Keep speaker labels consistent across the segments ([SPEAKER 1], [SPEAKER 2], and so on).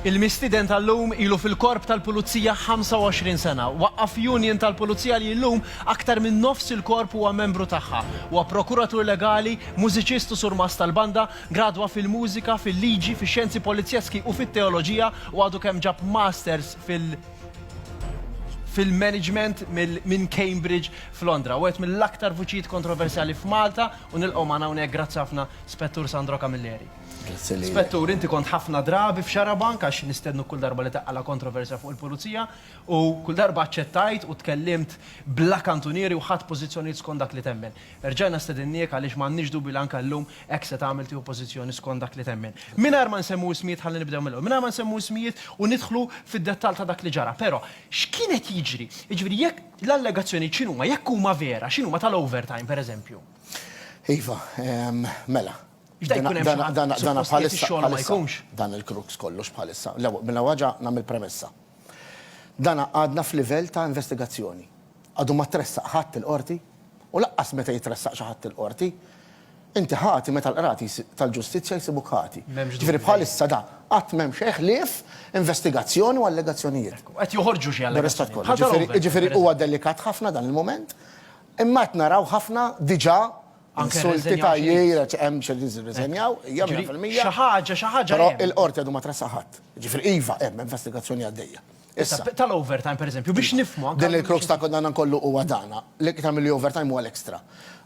[SPEAKER 1] Il-mistieden tal-lum ilu fil-Korp tal-Pulizija 25 sena. Waqqaf union tal-Pulizija li llum aktar minn nofs il-Korp huwa membru tagħha. Huwa prokuratur legali, mużiċist u surmast tal-banda, gradwa fil-mużika, fil-liġi, fix-xjenzi polizjeski u fit-teoloġija u għadu kemm ġab masters fil fil-management minn Cambridge f'Londra. Wieħed mill-aktar vuċijiet kontroversjali f'Malta u nilqgħu magħna hawnhekk grazzi ħafna Spettur Sandro Camilleri. Grazzi lilek. Spettur, inti kont ħafna drabi f'Xarabank għax nistednuk kull darba li taqqala' kontroversja fuq il-Pulizija u kull darba aċċettajt u tkellimt bla kantunieri u ħadt pożizzjonijiet skont dak li temmen. Erġajna stedinniek għaliex m'għandniex dubju li anke llum hekk se tagħmel tieħu pożizzjoni skont dak li temmen. Mingħajr ma nsemmu ismijiet ħalli nibdew mill-ewwel, mingħajr ma nsemmu ismijiet u nidħlu fid-dettall ta' dak li ġara, però x'kien qed jiġri? Jiġifieri jekk l-allegazzjonijiet x'inhuma, jekk huma vera, x'inhuma tal-overtime, pereżempju? Iva,
[SPEAKER 2] mela, Dan il-krux kollox bħalissa. Mela waġa nagħmel premessa. Dan għadna f'livell ta' investigazzjoni. Għadu ma tressaq ħadd il-Qorti u laqqas meta jitressaq xi ħadd il-Qorti, inti ħati meta l-Qrati tal-Ġustizzja jsibuk ħati. Ġifieri bħalissa da qatt m'hemm xejn ħlief investigazzjoni u allegazzjonijiet. Qed joħorġu xi
[SPEAKER 1] allegazzjonijiet. Jiġifieri huwa delikat
[SPEAKER 2] ħafna dan il-mument, imma qed naraw ħafna diġà Insulti ta' jgħir, eċ. Hemm xi li jirriżenjaw, hija mija fil-mija. Xi ħaġa, xi ħaġa. Però
[SPEAKER 1] il-Qorti għadu ma
[SPEAKER 2] tressaq ħadd. Jiġifieri iva, hemm investigazzjoni għaddejja. Issa. Tal-overtime,
[SPEAKER 1] pereżempju, biex nifhmu anke. Din il-crux ta' dan kollu
[SPEAKER 2] huwa dana. L-iktar milli overtime huwa l-extra.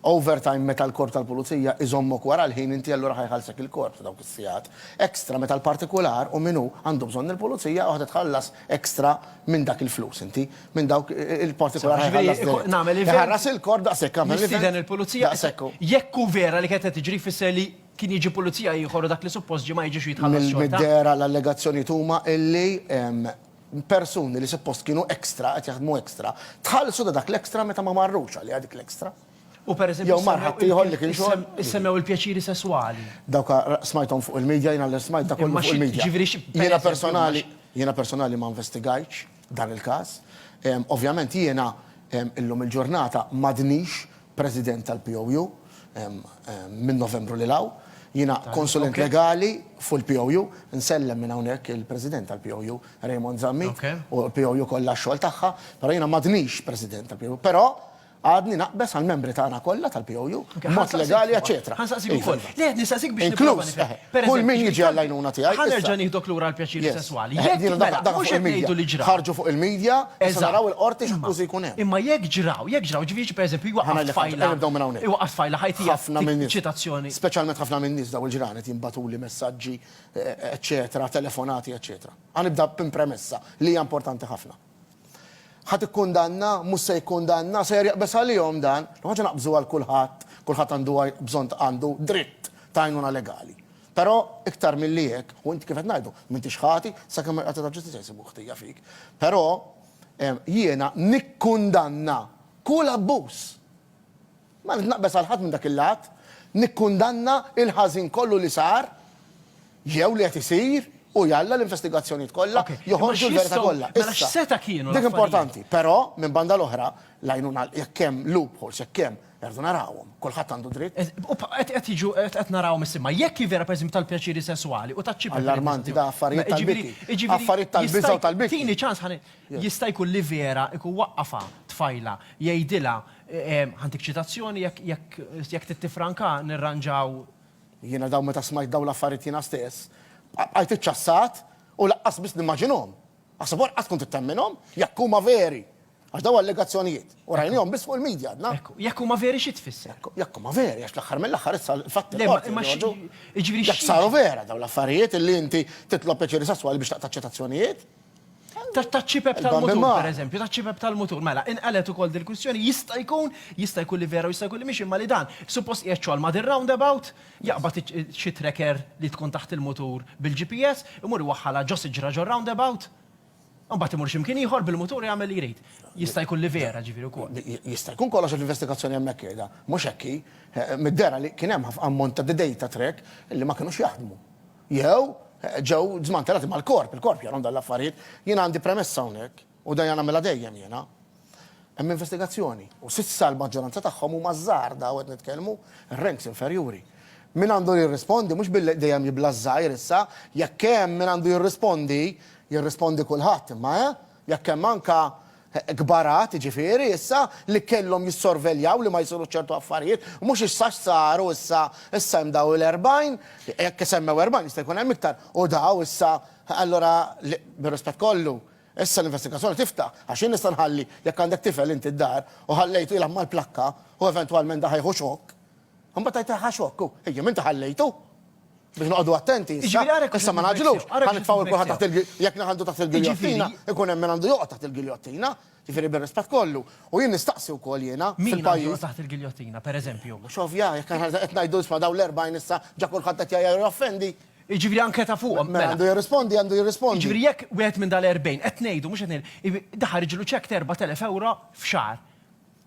[SPEAKER 2] Overtime meta l-Korp tal-Pulizija iżommok wara l-ħin inti allura ħa jħallsek il-Korp ta' dawk is-sigħat. Extra meta l-partikular u min hu għandu bżonn il-Pulizija u ħa titħallas extra minn dak il-flus inti. minn dawk il-partikolari Ġifieri, ħallas iku- dejjem. nagħmel event- Iħarras il-kor daqshekk għamel Nistieden event il-pulizija. daqshekk
[SPEAKER 1] hu. Jekk hu vera li kienet qed tiġri jfisser li kien jiġi pulizija ieħor u dak li suppost ġie ma jiġix u jitħallas Mill- xorta. Mid-dehra l-allegazzjonijiet
[SPEAKER 2] huma illi em, persuni li suppost kienu extra, qed jaħdmu extra, tħallsu ta' dak l-extra meta ma marrux għaliha dik l-extra. U per eżempju Jew mar
[SPEAKER 1] issemmew ħaddieħor il- li kien
[SPEAKER 2] xogħol. issem- Issemmew il-pjaċiri
[SPEAKER 1] sesswali. Dawk ra- smajthom
[SPEAKER 2] fuq il-media, jiena li smajt dak kollu Imma fuq xi- il-media. ġifieri xi- per Jiena eżempju, personali, imma jiena personali ma investigajtx. dan il-każ. Ovvjament jiena illum il-ġurnata m'għadnix President tal-POU minn Novembru lil hawn. Jiena konsulent legali fuq il-POU. Nsellem minn hawnhekk il-President tal-POU, Raymond Zammit, u l-POU kollha għax-xogħol tagħha, però jiena m'għadnix President tal-POU. Però Għadni naqbeż għall-membri tagħna kollha tal-POU, b'mod legali, eċċetera. Ħa nsaqsik ukoll. Iva. Le, qed nistaqsik
[SPEAKER 1] biex nipprova nifhem. Inkluż, pereżempju. Kull
[SPEAKER 2] min jiġi għall-għajnuna tiegħi. Ħa nerġa' nieħdok lura għall-pjaċiri
[SPEAKER 1] sesswali. Jekk jiena dak dak mhux qed ngħidu li ġra. Ħarġu fuq il-media,
[SPEAKER 2] issa naraw il-Qorti x'akkużi jkun hemm. Imma jekk ġraw, jekk ġraw,
[SPEAKER 1] ġifieri xi pereżempju jwaqqaf tfajla. Nibdew minn hawnhekk. Iwaqqaf tfajla ħajtija. Ħafna minn nies. Ċitazzjoni. Speċjalment ħafna minn nies
[SPEAKER 2] dawn il-ġranet qed jinbagħtuli messaġġi, eċċetera, telefonati, eċċetera. Ħa nibda b'premessa li hija importanti ħafna. Ħadd ikkundanna, mhux se jikkundanna, sejjer jaqbeż għalihom dan. L-ewwel ħaġa naqbżu għal kulħadd, kulħadd għandu bżonn għandu dritt ta' għajnuna legali. Però iktar milli hekk, u inti kif qed ngħidu, m'intix ħati sakemm il-Qorti tal-Ġustizzja jsibu ħtija fik. Però jiena nikkundanna kull abbuż. Ma rrid naqbeż għal ħadd minn dak il-lat. Nikkundanna l-ħażin kollu li sar jew li qed isir u jalla l-investigazzjonijiet kollha joħorġu l-verità kollha. Issa,
[SPEAKER 1] dik importanti. Però,
[SPEAKER 2] minn banda l-oħra, l-għajnuna, jekk hemm loopholes, jekk hemm, irridu narawhom. Kulħadd għandu dritt. U qed jiġu,
[SPEAKER 1] qed narawhom issa. Imma jekk hi vera, pereżempju, tal-pjaċiri sesswali u taċ-ċipek. Allarmanti da, affarijiet
[SPEAKER 2] tal-biża'. Jiġifieri, affarijiet tal-biża' u tal-biża'. Tini ċans ħa ngħid.
[SPEAKER 1] Jista' jkun li vera jkun waqqafha tfajla, jgħidilha Ħantik ċitazzjoni jekk trid tiffranka nirranġaw. Jiena dawn
[SPEAKER 2] meta smajt dawn l-affarijiet jiena stess bqajt iċċassat u laqqas biss nimmaġinhom. Aħseb u ara qatt tkun trid temminhom? Jekk huma veri! Għax dawn allegazzjonijiet u rajnihom biss fuq il-media għadna. Ekku, jekk huma veri xi
[SPEAKER 1] tfisser? Ekku, jekk huma veri għax
[SPEAKER 2] l-aħħar mill-aħħar issa l-fatti fil-Qorti joħorġu. Jiġifieri
[SPEAKER 1] xi. Jekk saru vera
[SPEAKER 2] dawn l-affarijiet illi inti titlob pjaċiri sesswali biex taqta' ċitazzjonijiet? Taċ-ċipep
[SPEAKER 1] tal-mutur, pereżempju, taċ-ċipep tal-mutur. Mela, inqalet ukoll dil-kwistjoni, jista' jkun, jista' jkun li vera u jista' jkun li mhix imma li dan suppost qiegħed xogħol ma' dir-roundabout, jaqbad xi tracker li tkun taħt il-mutur bil-GPS, imur iwaħħalha ġo siġra ġor-roundabout, u mbagħad imur xi mkien ieħor bil-mutur jagħmel li jrid. Jista' jkun li vera, ġifieri wkoll. Jista' jkun kollox għax
[SPEAKER 2] l-investigazzjoni hemmhekk qiegħda mhux hekk hi. Mid-dehra li kien hemm ammont ta' data track li ma kinux jaħdmu. Jew, ġew żmantelati mal-korp, il-korp jarahom dawn l-affarijiet. Jiena għandi premessa hawnhekk, u dejja nagħmilha dejjem jiena. Hemm investigazzjoni, u s'issa l-maġġoranza tagħhom huma ż-żgħar daw qed nitkellmu, ir-ranks inferjuri. Min għandu jirrispondi, mhux billi dejjem jibla' ż-żgħir issa, jekk hemm min għandu jirrispondi, jirrispondi kulħadd imma, eh? Jekk hemm anke kbarat, jiġifieri, issa, li kellhom jissorveljaw li ma jsirux ċertu affarijiet, mhux issa x'saru issa, issa hemm daw il-erbgħin, jekk isemmew erbgħin jista' jkun hemm iktar, u daw issa, allura li, bir-rispett kollu, issa l-investigazzjoni tiftaħ, għax jien nista' nħalli, jekk għandek tifel inti d-dar u ħallejtu jilgħab mal-plakka u eventwalment da ħa jieħu xokk, imbagħad tgħid ħa xokk hu, ejja m'inti ħallejtu! Biex noqogħdu attenti issa, issa ma nagħġlux, ħa nitfgħu lil kulħadd taħt il, jekk naħandu taħt il-giljottina, ikun hemm min għandu joqgħod taħt il-giljottina, jiġifieri bir-rispett kollu. U jien nistaqsi wkoll jiena, fil-pajjiż. Min għandu joqgħod taħt
[SPEAKER 1] il-giljottina, pereżempju? Mhux ovvja, jekk aħna
[SPEAKER 2] qed ngħidu isma' dawn l-40 issa ġa kulħadd qed jgħajjar u joffendi. Jiġifieri anke ta'
[SPEAKER 1] fuqhom, mela. Min għandu jirrispondi għandu
[SPEAKER 2] jirrispondi. Jiġifieri jekk
[SPEAKER 1] wieħed minn dal-40, qed ngħidu, mhux qed ngħidu, daħħal riġlu cheque ta' 4,000 ewro f'xahar.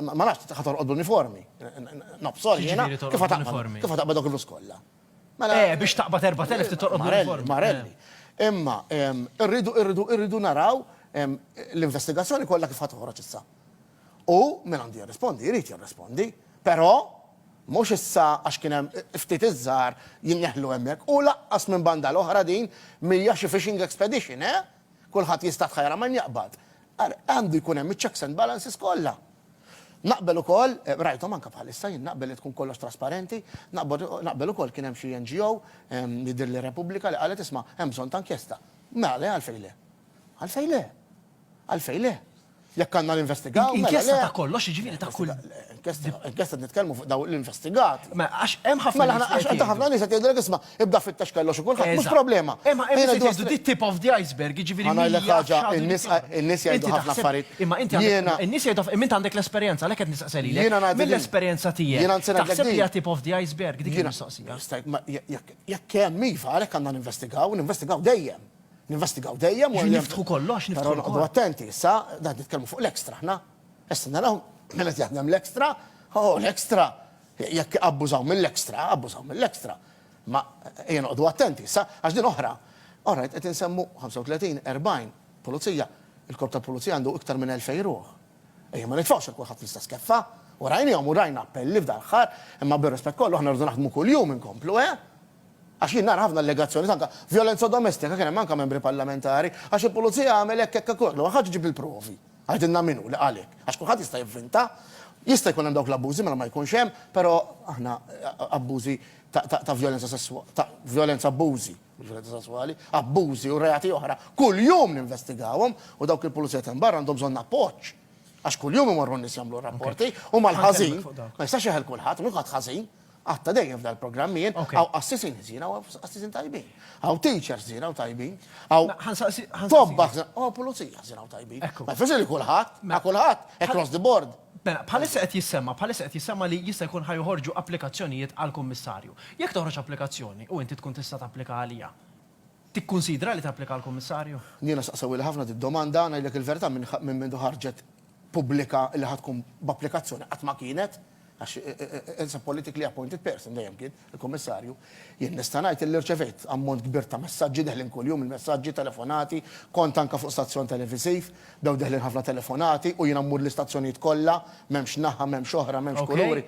[SPEAKER 2] Ma nafx, ħa torqod bl-uniformi. Nob, sorry, jiena. Kif ħa taqbad? Kif ħa taqbad dawk il-flus kollha? Mela. Eh, biex
[SPEAKER 1] taqbad 4,000 trid torqod bl-uniformi. Marelli,
[SPEAKER 2] imma irridu, irridu, irridu naraw l-investigazzjoni kollha kif ħa toħroġ issa. U min għandu jirrispondi, jrid jirrispondi. Però mhux issa għax kien hemm ftit iż-żgħar jinneħlu hemmhekk u lanqas minn banda l-oħra din m'hija xi fishing expedition, eh? Kulħadd jista' tħajjar għal min jaqbad. Għandu jkun hemm iċ-checks and balances kollha. Naqbel ukoll, rajthom anke bħalissa, jien naqbel li tkun kollox trasparenti, naqbel ukoll kien hemm xi NGO, jidhirli Repubblika, li qalet isma' hemm bżonn ta' inkjesta. Mela le, għalfejn le? Għalfejn le? Għalfejn le? Jekk għandna ninvestigaw, mela le. Inkjesta ta' kollox,
[SPEAKER 1] jiġifieri ta' kull. Inkjesta qed
[SPEAKER 2] nitkellmu fuq dawn l-investigat. Mela għax hemm ħafna.
[SPEAKER 1] Mela għax ħafna nies qed
[SPEAKER 2] jgħidulek isma', Ibda fittex kellox u kulħadd, mhux problema. Imma hemm Ħajna jgħidu di
[SPEAKER 1] tip of the iceberg, jiġifieri Ħa ngħidlek mija ħaġa, x'għadu in-nies
[SPEAKER 2] jkun. qa- in-nies jgħidu Inti ħafna taħseb- affarijiet. Imma inti għandek, Jiena- in-nies
[SPEAKER 1] jgħidu aff- imma inti għandek l-esperjenza, għalhekk qed nistaqsi lilek. Jiena ngħidlek din. Mill-esperjenza tiegħek, Jiena nsi ngħidlek taħseb li din. hija tip of the iceberg dik Jiena- il-mistoqsija? Jista' jkun- ma- je- jekk- Jekk hemm
[SPEAKER 2] iva, għalhekk għandna ninvestigaw, ninvestigaw dejjem. Ninvestigaw dejjem. u Jiġifieri hemm- niftħu kollox, niftħu Però
[SPEAKER 1] noqogħdu l-kol. attenti issa,
[SPEAKER 2] dan nitkellmu fuq l-ekstra aħna. Issa naraw min qed jaħdem l-extra, oh l-extra, jekk abbużaw mill-extra, abbużaw mill-extra. Imma ejja noqogħdu attenti issa, għax din oħra. Oħra qed insemmu 35, 40 pulizija, il-korp tal-pulizija għandu iktar minn 2,000 ruħ. Ejja ma nitfgħux għal kulħadd l-istess keffa, u rajniehom u rajna appelli f'dan l-aħħar, imma bir-rispett kollu aħna rridu naħdmu kuljum inkomplu, eh? Għax jien nara ħafna allegazzjonijiet anke vjolenza domestika kien hemm anke membri parlamentari, għax il-pulizija għamel hekk hekk hekk, l-ewwel ħaġa ġib il-provi. Għidilna min hu li qal hekk. Għax kulħadd jista' jivvinta. Jista' jkun hemm dawk l-abbużi mela ma jkunx hemm, però aħna abbużi ta' vjolenza sesswali, ta' vjolenza abbużi, mhux vjolenza sesswali, abbużi u reati oħra kuljum ninvestigawhom u dawk il-pulizija ta' hemm barra għandhom bżonn appoġġ. Għax kuljum imorru n-nies jagħmlu r-rapporti u mal-ħażin, ma jistax jeħel kulħadd, mhux kulħadd ħażin. Għad ta' dejjem f'dan il-programm jien, hawn qassisin ħżiena u hawn qassisin tajbin. Hawn teachers ħżiena u tajbin. Hawn tobba u pulizija ħżiena u tajbin. Ma jfisser li kulħadd, ma kulħadd, across the board. Mela, bħalissa qed
[SPEAKER 1] jissemma, bħalissa qed jissemma li jista' jkun ħa joħorġu applikazzjonijiet għal kummissarju. Jekk toħroġ applikazzjoni u inti tkun tista' tapplika għaliha, Tikkunsidra li tapplika għal Kummissarju? Jiena saqsewhili ħafna
[SPEAKER 2] di d-domanda, ngħidlek il-verità minn mindu ħarġet pubblika li ħa tkun b'applikazzjoni qatt ma kienet, għax it's a politically appointed person dejjem kien, il-Kummissarju. Jien nista' ngħid illi rċevejt ammont kbir ta' messaġġi deħlin kuljum il-messaġġi, telefonati, kont anke fuq stazzjon televisiv, bdew deħlin ħafna telefonati u jiena mmur l-istazzjonijiet kollha, m'hemmx naħa, m'hemmx oħra, m'hemmx kuluri.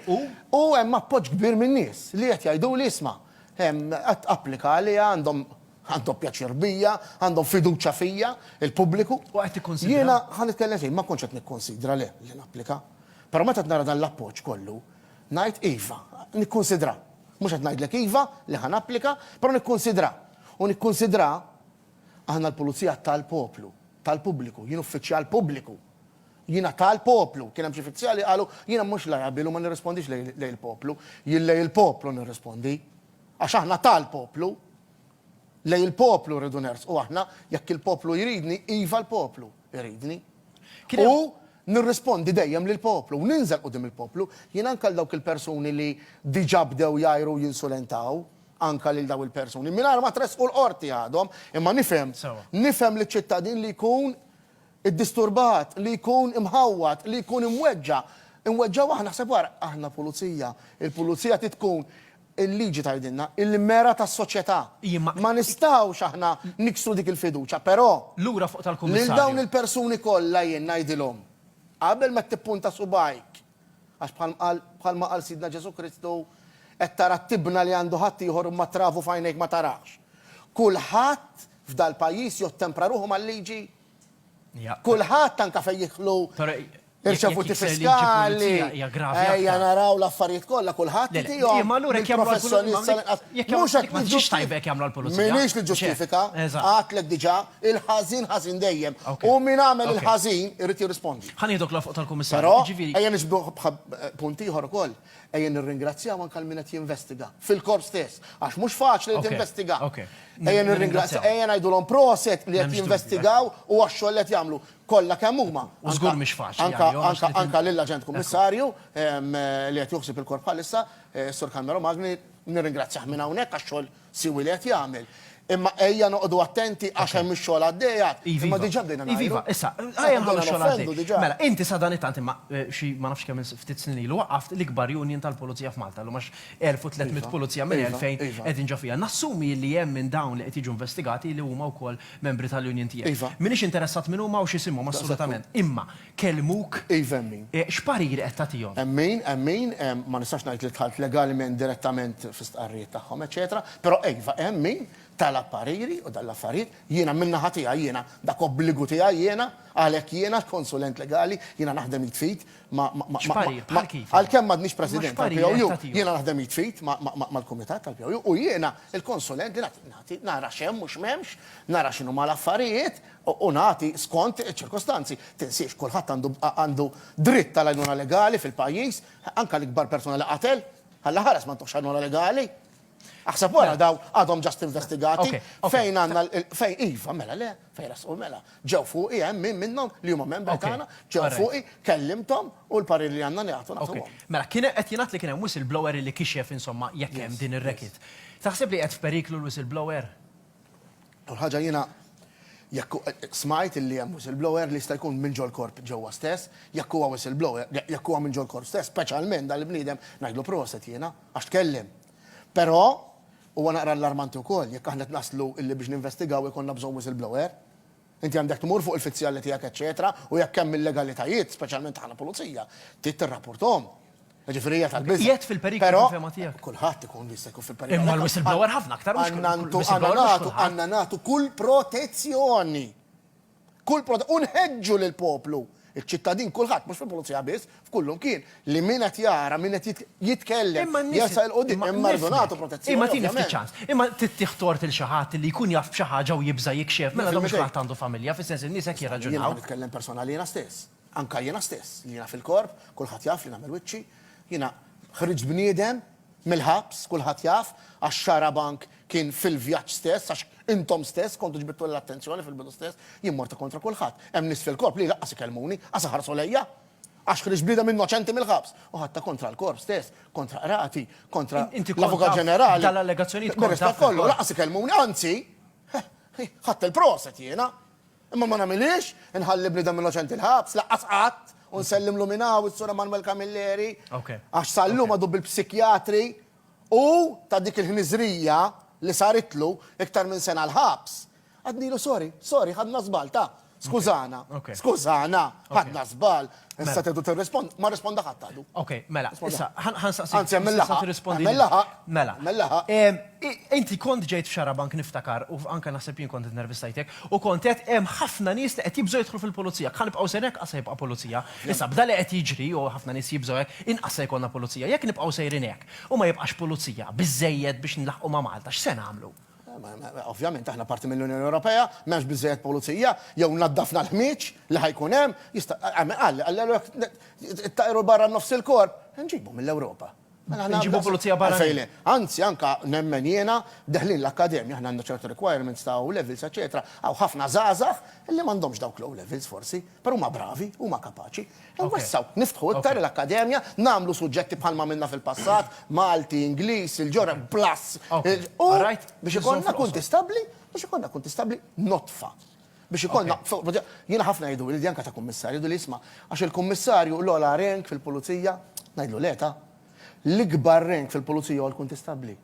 [SPEAKER 2] U hemm appoġġ kbir min-nies li qed jgħiduli isma', Applika għaliha, għandhom għandhom pjaċir bija, għandhom fiduċja fija, il-pubbliku. U qed tikkunsidra? Jiena,
[SPEAKER 1] ħa nitkellem f'jien, ma
[SPEAKER 2] kontx qed nikkunsidra le li napplika. Però meta qed nara dan l-appoġġ kollu, ngħid iva, nikkunsidra. Mhux qed ngħidlek iva li ħa napplika, però nikkunsidra. U nikkunsidra, aħna l-Pulizija tal-poplu, tal-pubbliku, jien uffiċjal pubbliku. Jiena ta' l-poplu. Kien hemm xi fizzjali qalu, jiena mhux l-Arabil u ma nirrispondix lejn il-poplu. Jien lejn il-poplu nirrispondi. Għax aħna ta' l-poplu. Lejn il-poplu rridu nersqu aħna. Jekk il-poplu jridni, iva l-poplu jridni. U nirrispondi dejjem lill-poplu u ninżel quddiem il-poplu. Jiena anke għal dawk il-persuni li diġà bdew jgħajru u jinsulentaw anke lil dawn il-persuni, mingħajr ma tressqu l-Qorti għadhom, imma nifhem, nifhem liċ-ċittadin li jkun iddisturbat, li jkun imħawwad, li jkun imweġġa', imweġġa' waħna, ħseb wara, aħna pulizija, il-pulizija trid tkun, il-liġi tgħidilna, il-mera tas-soċjetà. Ma nistgħux aħna niksru dik il-fiduċja, però, lil
[SPEAKER 1] dawn il-persuni
[SPEAKER 2] kollha jien ngħidilhom, qabel ma tippunta subgħajk, għax bħal qal, bħalma qal Sidna Ġesù Kristu, qed tara t-tibna li għandu ħaddieħor imma t-travu f'għajnejk ma tarax. Kulħadd f'dal-pajjiż jottempra ruħu mal-liġi, Kulħadd anke fejn jidħlu irċevuti fiskali, ejja naraw l-affarijiet kollha, kulħadd itihom lill-professjonist sal-inqas. Mhux
[SPEAKER 1] hekk ma ġiex tajba jekk jagħmluha l-pulizija. M'iniex niġġustifika,
[SPEAKER 2] għadtlek diġà, il-ħażin ħażin dejjem. U min għamel il-ħażin irid jirrispondi. Ħa nieħdok l-għoxol tal-Kummissarju.
[SPEAKER 1] Però ejja nixbduh
[SPEAKER 2] b'punt ieħor ukoll. Ejja nirringrazzjaw anke għal min qed jinvestiga, fil-Korp stess, għax mhux faċli li tinvestiga. Ejja nirringrazzjaw, ejja ngħidulhom proset li qed jinvestigaw u għax-xogħol li qed jagħmlu, kollha kemm huma,
[SPEAKER 1] anke lill-Aġent
[SPEAKER 2] Kummissarju li qed juħsib il-Korp bħalissa, is-Sur Carmelo Magni, nirringrazzjah minn hawnhekk għax-xogħol siwi li qed jagħmel. Imma ejja noqogħdu attenti għax hemm ix-xogħol għaddej għad. Imma diġà bdejna ngħidu. Iviva, issa, ejja
[SPEAKER 1] nħallu x-xogħol għaddej. Mela, inti sadanittant imma xi ma nafx kemm ftit snin ilu waqqaft l-ikbar union tal-pulizija f'Malta llum għax 1,300 pulizija minn 2,000 qegħdin ġo fiha. Nassumi illi hemm minn dawn li qed jiġu investigati li huma wkoll membri tal-union tiegħek. M'iniex interessat min huma u x'isimhom assolutament. Imma kellmuk. Iva hemm min. X'parir qed tagħtihom? Hemm min, hemm min,
[SPEAKER 2] ma nistax ngħid li dħalt legalment direttament fi stqarrijiet tagħhom eċċetera, però iva hemm min talab pariri u dan l-affarijiet jiena min-naħa tiegħi jiena dak obbligu tiegħi jiena għalhekk jiena l-konsulent legali jiena naħdem id f'id ma' ma' ma' X'parir? Bħal kif? għalkemm m'għadniex President Imma x'parir qed tal-POU tagħtihom? jiena naħdem id f'id ma' ma' ma' mal-kumitat tal-POU u jiena l-konsulent li nagħti nagħti nara x'hemm u x'm'hemmx, nara x'inhuma l-affarijiet, u nagħti skont iċ-ċirkostanzi. Tinsiex, kulħadd għandu għandu dritt għal għajnuna legali fil-pajjiż, anke l-ikbar persuna li qatel. Alla ħares ma ntuhx għajnuna legali. Aħseb wara dawn għadhom ġast investigati. Fejn għandna fejn iva, mela le, fejn rasqu mela. Ġew fuqi hemm min minnhom li huma membri tagħna, ġew fuqi, kellimthom u l-parir li għandna nagħtu nagħtuhom. Mela kien qed jingħad
[SPEAKER 1] li kien hemm whistleblower li kixef insomma jekk hemm din ir-racket. Taħseb li qiegħed f'periklu l-whistleblower? L-ewwel
[SPEAKER 2] ħaġa jiena jekk smajt illi hemm whistleblower li jista' jkun minn ġol-korp ġewwa stess, jekk huwa whistleblower, jekk huwa minn ġol-korp stess, speċjalment dan il-bniedem ngħidlu proset jiena għax tkellem. Però huwa naqra allarmanti wkoll jekk aħna qed naslu illi biex ninvestigaw ikollna bżonn whistleblower. Inti għandek tmur fuq il-fizzjalli tiegħek eċċetera u jekk hemm illegalitajiet, speċjalment ta' ħna pulizija, trid tirrapporthom. Jiġifieri hija tal-biża'. Qiegħed fil-periklu fil-fehma
[SPEAKER 1] tiegħek? Però kulħadd ikun jista' jkun
[SPEAKER 2] fil-periklu. Imma l-whistleblower ħafna
[SPEAKER 1] aktar mhux kulħadd.
[SPEAKER 2] Għandna nagħtu kull protezzjoni. Kull protezzjoni. U nħeġġu lill-poplu Iċ-ċittadin kulħadd, mhux fil-pulizija biss, f'kull imkien, li min qed jara, min qed jitkellem, jersaq 'il quddiem, hemm ma rridu nagħtu protezzjoni ovvjament. Imma tini ftit ċans.
[SPEAKER 1] Imma tittieħ tort lil xi ħadd li jkun jaf b'xi ħaġa u jibża' jikxef, mela dan mhux kulħadd għandu familja, fis-sens li n-nies hekk jirraġunaw. Jiena ħa nitkellem personal li jiena
[SPEAKER 2] stess. Anke jiena stess, li jiena fil-korp, kulħadd jaf li nagħmel wiċċi, jiena ħriġt bniedem Mill-ħabs, kulħadd jaf, għax Xarabank kien fil-vjaġġ stess, għax intom stess kontu ġbidtulha l-attenzjoni fil-bidu stess, jien morta kontra kulħadd. Hemm nies fil-Korp li laqqas ikellmuni, qas iħarsu lejja! Għax ħriġt bniedem innoċenti mill-ħabs! U ħadtha kontra l-Korp stess, kontra Qrati, kontra l-Avukat Ġenerali. Mir-rispett
[SPEAKER 1] kollu, laqqas
[SPEAKER 2] ikellmuni, anzi, ħadt il-proset jiena! Imma ma nagħmilhiex, inħalli bniedem innoċenti l-ħabs, lanqas qatt, u nsellimlu minn hawn is-Sur Emmanuel Camilleri, għax sal-lum għadu bil-psikjatri u, ta' dik il-ħniżrija li saritlu, iktar minn sena l-ħabs. Għadnilu sorry, sorry, ħadna żball, ta', skużana, skużana, ħadna żball, Issa Mela. tedu tirrispond, ma rrisponda ħadd għadu. Ok, mela, issa,
[SPEAKER 1] ħan ħan saqsik. Anzi, għamel issa laħaq, tirrispondi
[SPEAKER 2] għamel li- laħaq, Mela. għamel laħaq. Em, i- Inti
[SPEAKER 1] kont ġejt f'Xarabank niftakar u anke naħseb jien kont intervistajtek u kont qed hemm ħafna nies li qed jibżgħu jidħlu fil-pulizija. Ħa nibqgħu sejrin hekk qas se jibqa' pulizija. Issa b'dan li qed jiġri u ħafna nies jibżgħu hekk, inqas se jkollna pulizija. Jekk nibqgħu sejrin hekk u ma jibqax pulizija biżżejjed biex nlaħħqu ma' Malta, x'se nagħmlu? Ovvjament
[SPEAKER 2] aħna parti mill-Unjoni Ewropea, m'hemmx biżżejjed pulizija, jew naddafna l-ħmieġ li ħajkun hemm, jista' hemm qal qallu jekk ittaqru barra nofs il-korp, inġibu mill-Ewropa.
[SPEAKER 1] Inġibu pulizija barranin. Anzi anke
[SPEAKER 2] nemmen jiena deħlin l-akkademja aħna għandna ċertu requirements ta' O levels eċċetera, hawn ħafna żgħażagħ li m'għandhomx dawk l-O levels forsi, però huma bravi, huma kapaċi, Inwessgħu, niftħu iktar l-Akkademja, nagħmlu suġġetti bħalma għamilna fil-passat, Malti, Ingliż, il-ġora, plus, u biex ikollna kunti stabbli, biex ikollna kunti stabbli nodfa. Biex ikollna, jiena ħafna jgħiduli li anke ta' Kummissarju jgħiduli isma' għax il-Kummissarju l-ogħla rank fil-Pulizija, ngħidlu le ta'. L-ikbar rank fil-Pulizija huwa l-Kuntistabbli.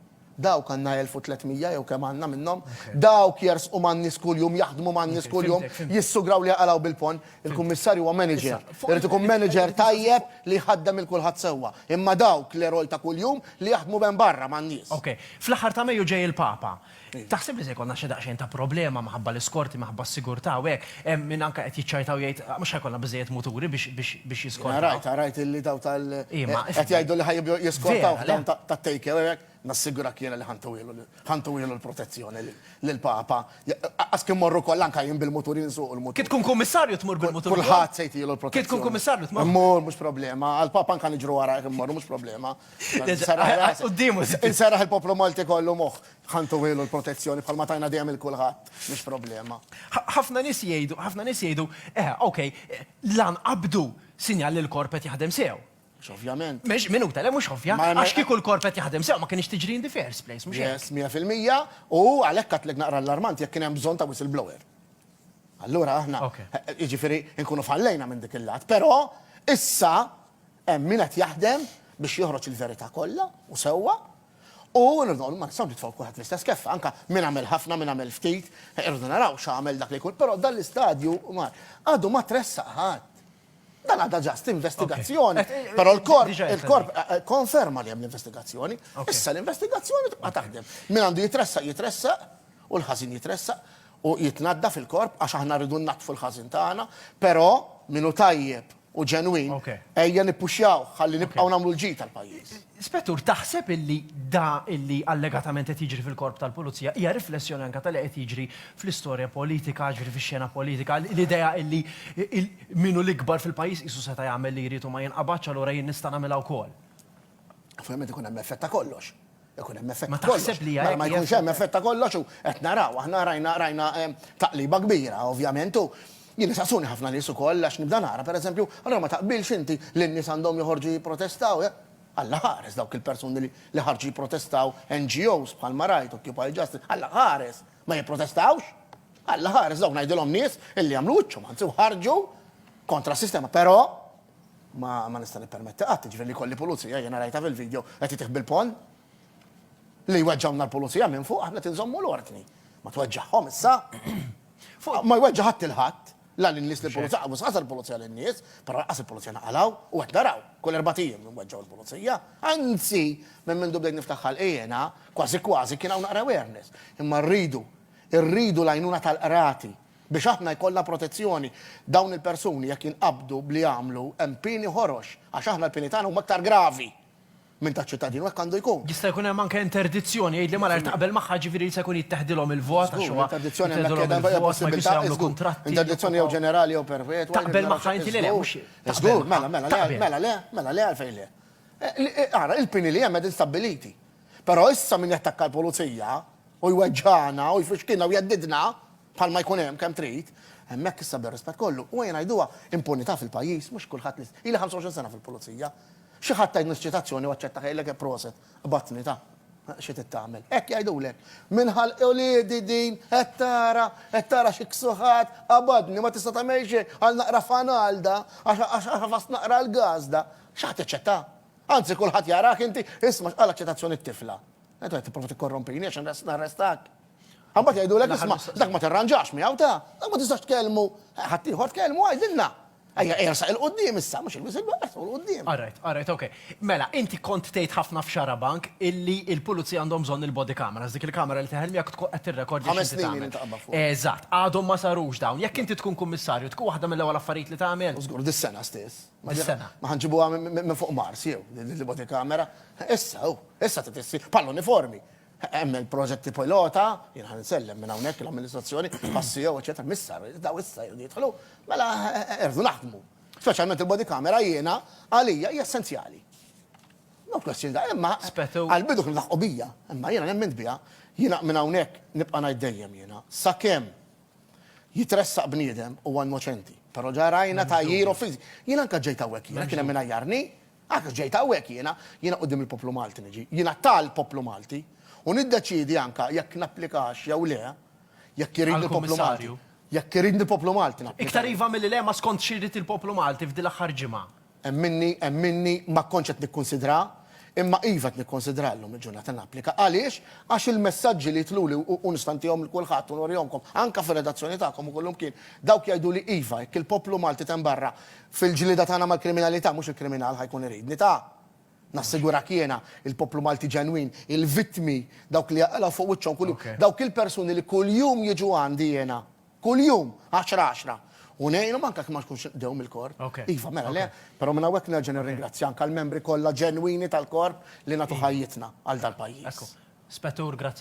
[SPEAKER 2] Dawk għandna 1,300 jew kemm għandna minnhom. Dawk jersqu man-nies kuljum, jaħdmu man-nies kuljum, jissugraw li jaqalgħu bil-ponn. Il-Kummissarju huwa manager. Irid ikun manager tajjeb li jħaddem lil kulħadd sewwa. Imma dawk l-eroj ta' kuljum li jaħdmu b'hemm barra man-nies. Okej. Fl-aħħar ta'
[SPEAKER 1] Mejju ġej il-Papa. Taħseb li se jkollna xi daqsxejn ta' problema minħabba l-iskorti, minħabba s-sigurtà u hekk? Hemm min anke qed jiċċajta u jgħid mhux ħa jkollna biżżejjed muturi biex jiskortaw. Jiena rajt, rajt illi dawn tal.
[SPEAKER 2] Qed jgħidu li ħa jibdew jiskortaw dawn tat-take away u hekk. Nassigurah jiena li ħa ntuhielu, ħa ntuhielu l-protezzjoni lill-Papa. Qas kemm mmorru kollha anke jien bil-mutur, jien nsuq il-mutur. Kif tkun kummissarju tmur
[SPEAKER 1] bil-mutur. Kulħadd se jtihielu l-protezzjoni. Kif
[SPEAKER 2] tkun kummissarju tmur.
[SPEAKER 1] Immur, mhux problema.
[SPEAKER 2] Għall-Papa anke niġru warajh immorru, mhux problema. Insaraħ il-poplu Malti kollu moħ, ħantu għilu l-protezzjoni bħal ma tajna dejjem il-kulħadd, mhix problema. ħafna nies
[SPEAKER 1] jgħidu, ħafna nies jgħidu, eh, ok, lan qabdu sinjal li l-korp qed jaħdem sew. Ovvjament. Mhux
[SPEAKER 2] minuta, le mhux
[SPEAKER 1] ovvja. Għax kieku l-korp qed jaħdem sew ma kienx tiġri in the first place, mhux hekk. 100%
[SPEAKER 2] u għalhekk għatlek naqra l-armant jekk kien hemm bżonn ta' whistleblower. Allura aħna, jiġifieri nkunu fallejna minn dik il-lat, però issa Hemm min qed jaħdem biex joħroġ il-verità kollha u sewwa, u rridu nagħmlu, ma nistgħux nitfgħu kulħadd fl-istess keffa, anke min għamel ħafna, min għamel ftit, irridu naraw x'għamel dak li jkun, però dan l-istadju mar, għadu ma tressaq ħadd. Dan għadha ġast investigazzjoni, però l-korp konferma li hemm l-investigazzjoni, issa l-investigazzjoni tibqa' taħdem. Min għandu jitressaq jitressaq u l-ħażin jitressaq u jitnaddaf il-korp għax aħna rridu nnaddfu l-ħażin tagħna, però min hu tajjeb u ġenwin, ejja nippuxjawh ħalli nibqgħu nagħmlu l-ġid tal-pajjiż. Spettur, taħseb
[SPEAKER 1] illi da illi allegatament qed jiġri fil-Korp tal-Pulizija hija riflessjoni anke ta' li qed jiġri fl-istorja politika, jiġifieri fix-xena politika, l-idea illi min hu l-ikbar fil-pajjiż qisu seta' jagħmel li jrid u ma jinqabadx allura jien nista' nagħmilha wkoll? Ovvjament
[SPEAKER 2] ikun hemm effett ta' kollox. Ikun hemm effett ta' kollox. Mela ma jkunx hemm
[SPEAKER 1] effett ta'
[SPEAKER 2] kollox u qed naraw, aħna rajna rajna taqliba kbira ovvjament u jien isaqsuni ħafna nies ukoll għax nibda nara pereżempju, allura ma taqbilx inti li n-nies għandhom joħorġu jipprotestaw? Alla ħares dawk il-persuni li ħarġu jipprotestaw, NGOs bħalma rajt, Occupy Justice, Alla ħares! Ma jipprotestawx? Alla ħares dawk ngħidilhom nies illi għamlu wiċċhom anzi u ħarġu kontra s-sistema. Però, Ma ma nista' nippermetti qatt, jiġifieri li jkolli pulizija, jiena rajtha fil-video, qed itih bil-ponn. Li jweġġgħulna l-pulizija minn fuq, aħna qed inżommu l-ordni. Ma tweġġagħhom issa. Ma jweġġa' ħadd il-ħadd, la lin-nies lill-pulizija, mhux ħasar il-pulizija lin-nies, però lanqas il-pulizija naqalgħu, u qed naraw, kull erbat ijiem inweġġgħu l-pulizija. Anzi, minn mindu bdejt niftaħ ħalqi jiena, kważi kważi kien hawn naqra awareness. Imma rridu, irridu l-għajnuna tal-qrati, Biex aħna jkollna protezzjoni, dawn il-persuni jekk jinqabdu b'li għamlu, hemm pieni ħorox, għax aħna l-pieni tagħna huma aktar gravi minn taċ-ċittadin u hekk għandu jkun. Jista' jkun hemm anke
[SPEAKER 1] interdizzjoni, jgħidli malajr taqbel magħha, jiġifieri jista' jkun jitteħdilhom il-vot għax huwa. Żgur, interdizzjoni hemmhekk qiegħda, hija
[SPEAKER 2] possibilità, żgur. Interdizzjoni jew ġenerali jew perpetwa. Taqbel magħha inti li le,
[SPEAKER 1] mhux. Żgur, mela, mela, le,
[SPEAKER 2] mela, le, mela, le għalfejn le. Ara, il-pieni li hemm qegħdin stabbiliti. Però issa min jattakka l-pulizija, u jweġġagħna u jfixkilna u jeddidna, bħalma jkun hemm, kemm trid, hemmhekk issa bir-rispett kollu, u ejja ngħiduha, impunità fil-pajjiż, mhux kulħadd li, ili 25 sena fil-Pulizija, xi ħadd tgħidni s-ċitazzjoni u aċċettaha jgħidlek eh proset, qbadtni ta'. Xi trid tagħmel. Hekk jgħidulek. Minn ħalq uliedi din, qed tara, qed tara xi ksuħat, qabadni, ma tista' tagħmel xejn, għal naqra fanalda, għax ħafast naqra l-gazda, xi ħadd jaċċettaha? Anzi kulħadd jarak inti, isma' x'qalet ċitazzjoni t-tifla. Qed qed tipprova tikkorrompini għax inres narrestak. Imbagħad jgħidulek isma' dak ma tirranġax miegħu ta', dak ma tistax tkellmu. Ħadd ieħor tkellmu għidilna. Ejja ersaq 'il quddiem issa, mhux ilbies il-belt, ersaq 'il quddiem. Alright, alright, ok.
[SPEAKER 1] Mela, inti kont tgħid ħafna f'Xarabank illi il-pulizija għandhom bżonn il-body cameras, dik il-kamera li teħel miegħek tkun qed tirrekordja x'inti tagħmel. Ħames snin ilu inti qabbad
[SPEAKER 2] fuqha. Eżatt, għadhom ma
[SPEAKER 1] sarux dawn. Jekk inti tkun kummissarju, tkun waħda mill-ewwel affarijiet li tagħmel? Żgur, dis-sena stess.
[SPEAKER 2] Dis-sena. Ma ħa nġibuha minn fuq Mars jew, li body camera. Issa, hu, issa trid issir bħal uniformi. Hemm il-proġetti pilota, jien ħa nsellem minn hawnhekk l-amministrazzjoni, għas-CEO, eċetera, missa, daw issa jridu jidħlu, mela irdu naħdmu. Speċjalment il-body camera jiena għalija hija essenzjali. No question, imma għall-bidu kienu laħqu
[SPEAKER 1] bija,
[SPEAKER 2] imma jiena nemmind biha, jiena minn hawnhekk nibqa' ngħid dejjem jiena, sakemm jitressaq bniedem huwa innoċenti. Però ġa rajna tgħajjir offiżi. Jien anke ġejt hawnhekk jiena, kien hemm min għajjarni, għax ġejt hawnhekk jiena, jiena quddiem il-poplu Malti niġi, jiena tal-poplu Malti, u niddeċiedi anke jekk napplikax jew le, jekk iridni l-poplu Malti. Jekk iridni
[SPEAKER 1] l-poplu
[SPEAKER 2] Malti napplika. Iktar iva milli le, ma skont
[SPEAKER 1] xi jrid il-poplu Malti f'din l-aħħar ġimgħa. Hemm minni, hemm
[SPEAKER 2] minni, ma kontx qed nikkunsidraha, imma iva qed nikkonsidraha llum il-ġurnata napplika. Għaliex? Għax il-messaġġi li jitluli u u nistantihom lil kulħadd u norihomkom anke fir-redazzjoni tagħkom u kullimkien, dawk jgħiduli iva, jekk il-poplu Malti t'hemm barra fil-ġlieda tagħna mal-kriminalità, mhux il-kriminal ħa jkun iridni. Ta! Nassigurak jiena, il-poplu Malti ġenwin, il-vittmi, dawk li jaqilgħu fuq wiċċhom kuljum, dawk il-persuni li kuljum jiġu għandi jiena, Kuljum, għaxra għaxra. U ngħinhom anke jekk ma jkunx il-qdew mill-korp. Iva, mela le, però minn hawnhekk nerġa' nirringrazzja anke l-membri kollha ġenwini tal-korp li nagħtu ħajjitna għal dal-pajjiż. Spettur, grazzi.